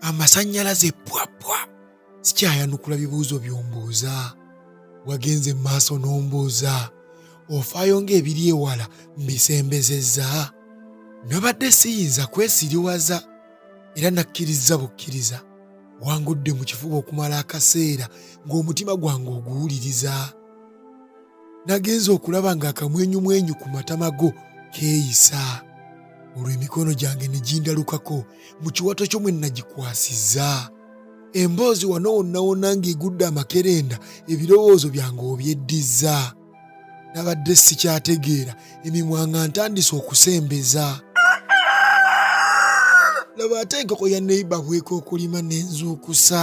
amasannyalaze pwapwa sikyayanukula bibuuzo by'ombuuza wagenze mu maaso n'ombuuza ofaayo ng'ebiri ewala mbisembezezza nabadde siyinza kwesiriwaza era nakkirizza bukkiriza wangudde mu kifuba okumala akaseera ng'omutima gwange oguwuliriza nagenze okulaba ng'akamwenyumwenyu ku matama go keeyisa olwo emikono gyange ne gindalukako mu kiwato kyo mwe nagikwasizza emboozi wano wonnawonna ng'egudde amakerenda ebirowoozo byange obyeddizza nabadde sikyategeera emimwa nga ntandise okusembeza laba ate enkoko ya neiba bweka okulima n'enzuukusa